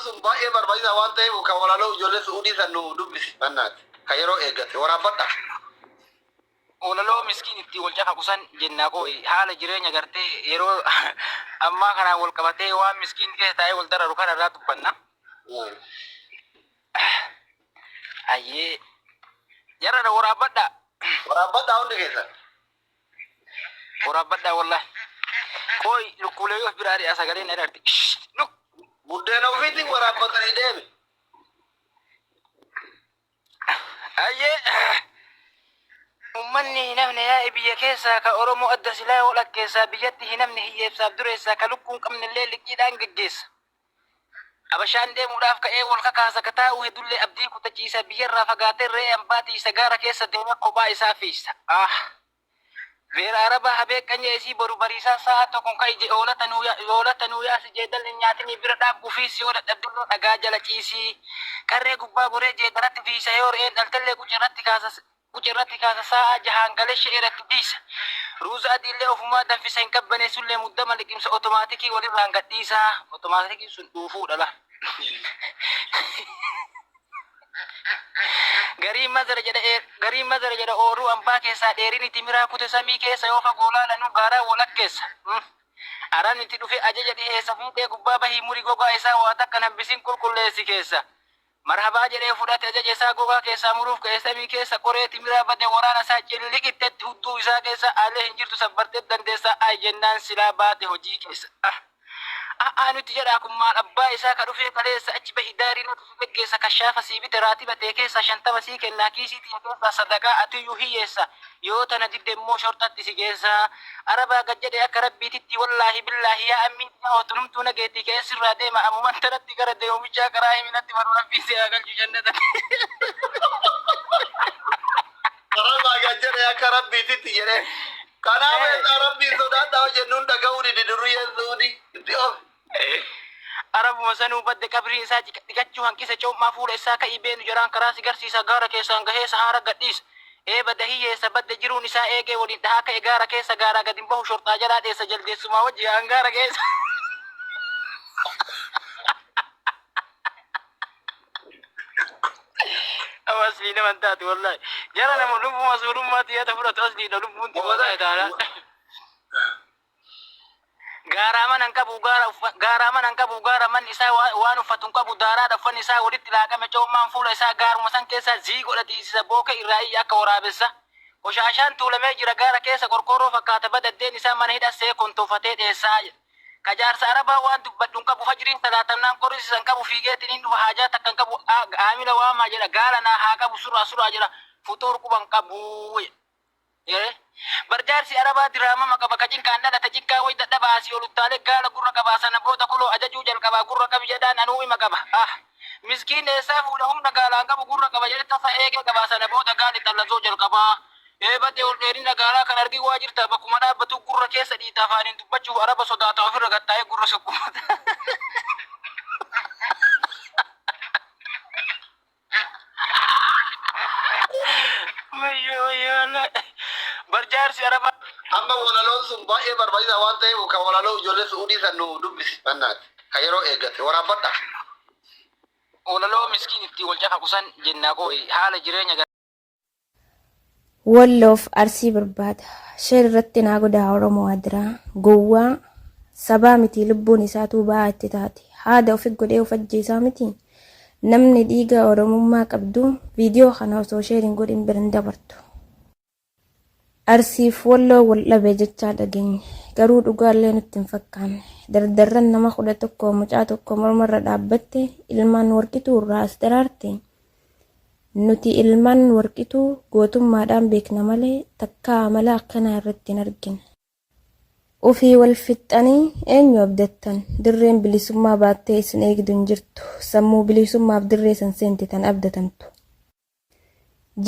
sun baay'ee barbaachisaa waan ta'eef kan walaloo ijoollee su'uudii san nu dubbisi mannaati kan yeroo eeggate waraabbadha. Walaloo miskiin itti wal cafaqu san jennaa koo haala jireenya gartee yeroo ammaa kanaan wal qabatee waan miskiin keessa taa'ee wal dararu kana irraa dubbanna. Ayyee jarra na waraabbadhaa. Waraabbadhaa hundi keessan. Waraabbadhaa wallahi. Qoy lukkuulee yoo biraa dhiyaa sagaleen na darti. Luk. Buddeena ofiitiin waraabbatanii deemi. Ayyee. Ummanni hin hafne yaa'e biyya keessaa ka Oromoo adda silaa walakkeessaa biyyatti hin hafne hiyyeessaaf dureessaa ka lukkuun qabnellee liqiidhaan geggeessa. Abashaan deemuudhaaf ka'ee wal kakaasa ka taa'u hedullee abdii kutachiisa biyyarraa fagaatee re'ee ambaa tiysa gaara keessa deemee kophaa isaa fiigsa. Ah! Beera arabaa habee qanyee isii boru bariisaan saa'aa tokkon ka'i je oolata nuu ya oolata nuu yaasi jeedalli hin nyaatinii bira dhaab ufiis yoo dadhabdillee dhagaa jala ciisii. Qarree gubbaa goree jeedaratti fiigsa yoo re'een dhaltellee quca irratti kaasa. Qucee irratti kaasa saa'aa jahaan galee sha'ee irratti dhiisa. Ruuza adiillee ofumaa danfisa hin qabbaneessullee muddama liqimsa otomaatikii walirraan gad dhiisa. Otomaatikiin sun dhuufuudha bar. Gariin mazara jedha ee gariin mazara jedha oorruu ambaa keessaa dheerinni timiraa kute samii keessa yoo fagoo laalanuu gaaraan walakkeessa. Arabni itti dhufee ajaja dhiheessa fiixee gubbaa bahii muri gogaa isaa waa takka hin hambisin qulqulleessi keessa. Marhabaa jedhee fudhate ajaja isaa gogaa keessaa muruuf ka'e samii keessa qoree timiraa bade waraana isaa cililiqittetti hudduu isaa keessa aalee hin jirtu sabbarteet dandeessaa ayi jennaan silaa baate hojii keessa ah ah ah nutti jedhaa kun maal abbaa isaa ka dhufee kaleessa achi bahi daarii nutti si geggeessa kashaafa sii bite raatiba tee keessaa shantama sii kennaa kiisii tiyya keessaa sadaqaa atiyyuu hiyyeessa Yoo tana didde immoo shorxatti si geessa. Arabaa gad jedhe akka Rabbiititti wallaahi billaahi yaa ammii tiyaa otu numtuu na geetti ka'ee sirraa deema amuman tanatti gara deemu bichaa karaa himi natti baru Rabbiin si haa galchu jannatatti. Arabaa gad jedhe akka Rabbiititti jedhee. Kanaaf eessaa Rabbiin sodaadhaa hojjennuun dhaga'uu dide durriyyeen Suudii. Itti of. Arabuma sanuu badda qabriin isaa ciqa- dhiqachuu hanqisa coom'aa fuula issaa ka'ii beenu jaraan karaa si garsiisa gaara keessaan gahee sahaara gadhiisa. Ee bada hiyyeessa badda jiruun isaa eegee waliin dhahaa ka'e gaara keessa gaaraa gad hin bahu shorxaa jalaa dheessa jaldeessumaa wajji yaa'an gaara keessa. Amma aslii nama hin taatu wallaahi. Jara nama lubbuma suurummaatti yaada fudhatu asliidha lubbuun xiqqoo ta'e taanaan. Gaaraa mana hin qabu gaara uffa, gaaraa mana hin qabu gaara manni isaa wa- waan uffatu hin qabu daaraadha uffanni isaa walitti laaqame coommaan fuula isaa gaaruma san keessaa zii godha tiisisa booke irraa iyya akka waraabessa qoshaashaan tuulamee jira gaara keessa qorqoorroo fakkaata badaddeen isaa mana hidha see kontoofatee dheessaa jedha ka jaarsa arabaa waan dubbadhu hin qabu fajriin salaatamnaan qorisi san qabu fiigeetiin hin dhufa haajaa takka hin qabu A- aamila waamaa jedha gaala naa haa qabu suraa suraa jedha fuxuur quba hin qabu jedha Ee. Bar jaarsi Arabaa diraamama qaba ka cinqaan dhalate cinqaa way dadhaba asii ol uttaalee gaala gurra qabaa sana booda kuloo ajajuu jalqabaa gurra qabi jedhaan anuu ima qaba ah miskiin eessaa fuudha humna gaalaan qabu gurra qaba jedhe tasa eegee qabaa sana booda gaali xallazoo jalqabaa ee badee ol dheerina gaalaa kan argii waa jirtaa bakkuma dhaabbatuu gurra keessa dhiita afaaniin dubbachuuf araba sodaata ofirra gattaa'ee gurra sukkummata. Wayyoo wayyoo Allah. Bar jaarsi arabaa. Amma walaloon sun baay'ee barbaachisaa waan ta'eef kan walaloo ijoollee su'uudii san nu dubbisi bannaati. Kan yeroo eeggate waraabadha. Walaloo miskiin itti wal cafaqu san jennaa koo haala jireenya Walloof Arsii barbaada. Sheer irratti naa godhaa Oromoo adiraa. Gowwaa sabaa mitii lubbuun isaatuu ba'aa itti taate. Haada ofi godhee of ajjeesaa mitii? Namni dhiiga Oromummaa qabdu viidiyoo kana osoo sheer hin godhin bira hin dabartu. Arsiif Walloo wal dhabe jechaa dhageenye. Garuu dhugaallee nutti hin fakkaanne. Dardarran nama kudha tokko mucaa tokko mormarra dhaabbatte ilmaan Warqituu irraa as daraarte. Nuti ilmaan Warqituu gootummaadhaan beekna malee takkaa amala akkanaa irratti hin argine. Ofii wal fixxanii eenyu abdattan? Dirreen bilisummaa baattee isin eegdu hin jirtu. Sammuu bilisummaaf dirree san seente tan abdatantu.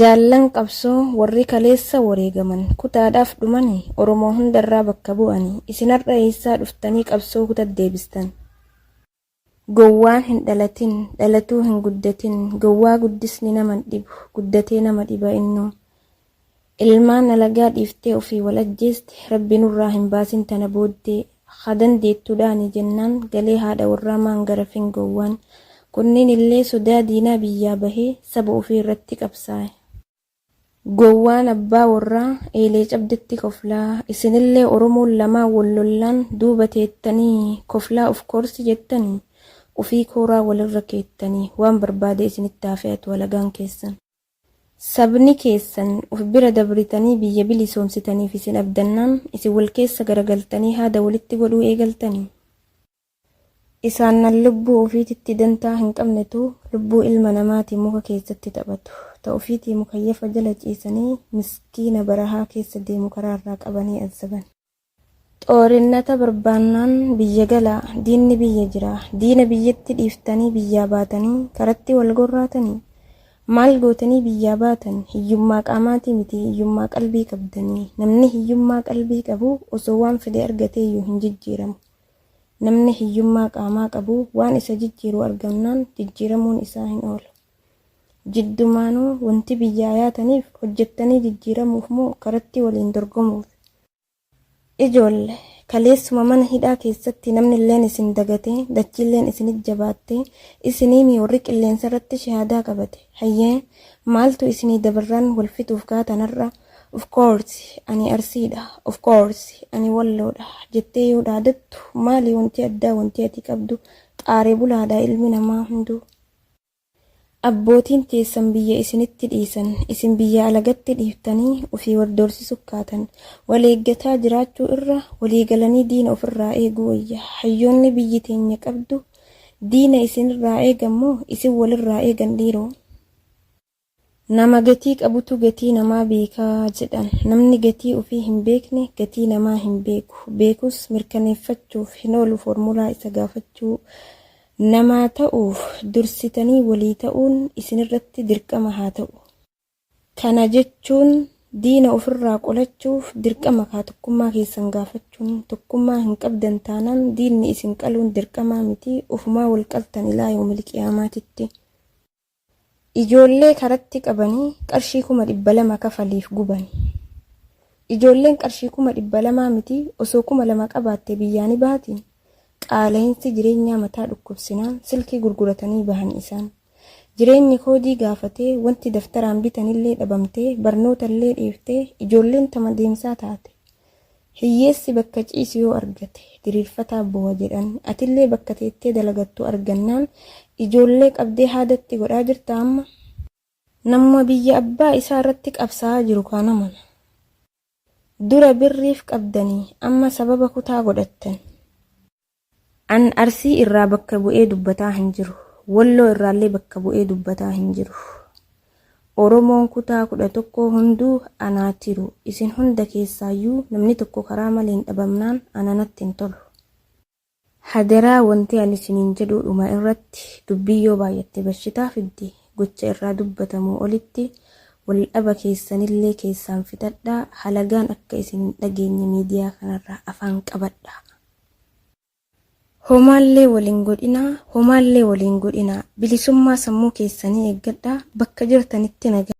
Jaallan qabsoo warri kaleessa wareegaman, kutaadhaaf dhumani, Oromoo hunda irraa bakka bu'ani. Isin har'a eessaa dhuftanii qabsoo kutat deebistan? Gowwaan hin dhalatin, dhalatuu hin guddatin, gowwaa guddisni nama hin dhibu, guddatee nama dhiba innuu. Ilmaan alagaa dhiiftee ofii wal ajjeeste, Rabbi nurraa hin baasin tana booddee. Haa dandeettu dhaani jennaan galee haadha warraa maan garafin gowwaan. Kunniinillee sodaa diinaa biyyaa bahee saba ofii irratti qabsaa'e. Gowwaan abbaa worraa eelee cabdetti koflaa isinillee oromoon lamaan wol lollaan duuba teettanii koflaa of course jettanii ufii kooraa wolirra keettanii waan barbaade isinitti haa fe'atu halagaan keessan. Sabni keessan of bira dabritanii biyya bilisoomsitaniif isin abdannaan isin wol keessa garagaltanii haada wolitti godhuu eegaltanii? Isaan nan lubbuu ufiititti dantaa hin qabnetu lubbuu ilma namaati muka keessatti taphatu. Ta ufiitii mukayyafa jala ciisanii miskiina barahaa keessa deemu karaa irraa qabanii azzaban. Xoorinnata barbaannaan biyya galaa, diinni biyya jiraa, diina biyyatti dhiiftanii biyyaa baatanii karatti wal gorraatanii? Maal gootanii biyyaa baatan? Hiyyummaa qaamaatii miti hiyyummaa qalbii qabdanii. Namni hiyyummaa qalbii qabu osoo waan fedhe argateeyyuu hin jijjiiramu. Namni hiyyummaa qaamaa qabu waan isa jijjiiru argamnaan jijjiiramuun isaa hin oolu. Jiddumaanuu wanti biyyaa yaataniif hojjettanii jijjiiramuuf moo karatti waliin dorgomuufi? Ijoolle, kaleessuma mana hidhaa keessatti namnilleen isin dagatee, dachiilleen isinit jabaattee, isiniimi warri qilleensarratti shahaadaa qabate. Hayyee, maaltu isinii dabarraan wal fixuuf kaatan har'a? Of course ani Arsiidha, of course ani Walloodha jettee yoo dhaadattu maali wanti addaa wanti ati qabdu? Xaare bulaadha ilmi namaa hunduu. Abbootiin teessan biyya isinitti dhiisan isin biyya alagatti dhiiftanii ofii wal doorsisu kaatan. Wal eeggataa jiraachuu irra walii galanii diina of irraa eeguu wayya. Hayyoonni biyyi teenya qabdu diina isin irraa eegan moo isin wal irraa eegan dhiiroo? Nama gatii qabutu gatii namaa beeka jedhan. Namni gatii ofii hin beekne gatii namaa hin beeku. Beekus mirkaneeffachuuf hin oolu foormulaa isa gaafachuu. Namaa ta'uuf dursitanii walii ta'uun isinirratti dirqama haa ta'u. Kana jechuun diina ofirraa qolachuuf dirqama kaa tokkummaa keessan gaafachuun. Tokkummaa hin qabdan taanaan diinni isin qaluun dirqamaa miti. Ofumaa wal qaltan ilaa yawmil qiyaamaatitti. Ijoollee karatti qabanii qarshii kuma dhibba lama kafaliif gubani. Ijoolleen qarshii kuma dhibba lamaa miti osoo kuma lama qabaatte biyyaa ni baatii? Qaala'iinsi jireenyaa mataa dhukkubsinaan silkii gurguratanii bahani isaan. Jireenyi koodii gaafatee wanti daftaraan bitanillee dhabamtee barnootallee dhiiftee ijoolleen tama deemsaa taate. Hiyyeessi bakka ciisu yoo argate diriirfataa bowa jedhan. Atillee bakka teettee dalagattu argannaan ijoollee qabdee haadatti godhaa jirta amma? Namuma biyya abbaa isaa irratti qabsaa'aa jiru kaan amana. Dura birriif qabdanii amma sababa kutaa godhattan. An Arsii irraa bakka bu'ee dubbataa hin jiru. Walloo irraallee bakka bu'ee dubbataa hin jiru. Oromoon kutaa 11 hunduu anaa tiru. Isin hunda keessaayyuu namni tokko karaa maleen dhabamnaan ana natti hin tolu. Hadaraa wanti ani isiniin jedhu dhuma irratti dubbiin yoo baay'atte bashitaa fiddi. Gocha irraa dubbatamuu olitti waldhaba keessanillee keessaan fixadhaa. Halagaan akka isin hin dhageenye miidiyaa kanarraa afaan qabadhaa. Homaallee wal hin godhinaa, homaallee wal hin godhinaa, bilisummaa sammuu keessanii eeggadhaa, bakka jirtanitti nagaa.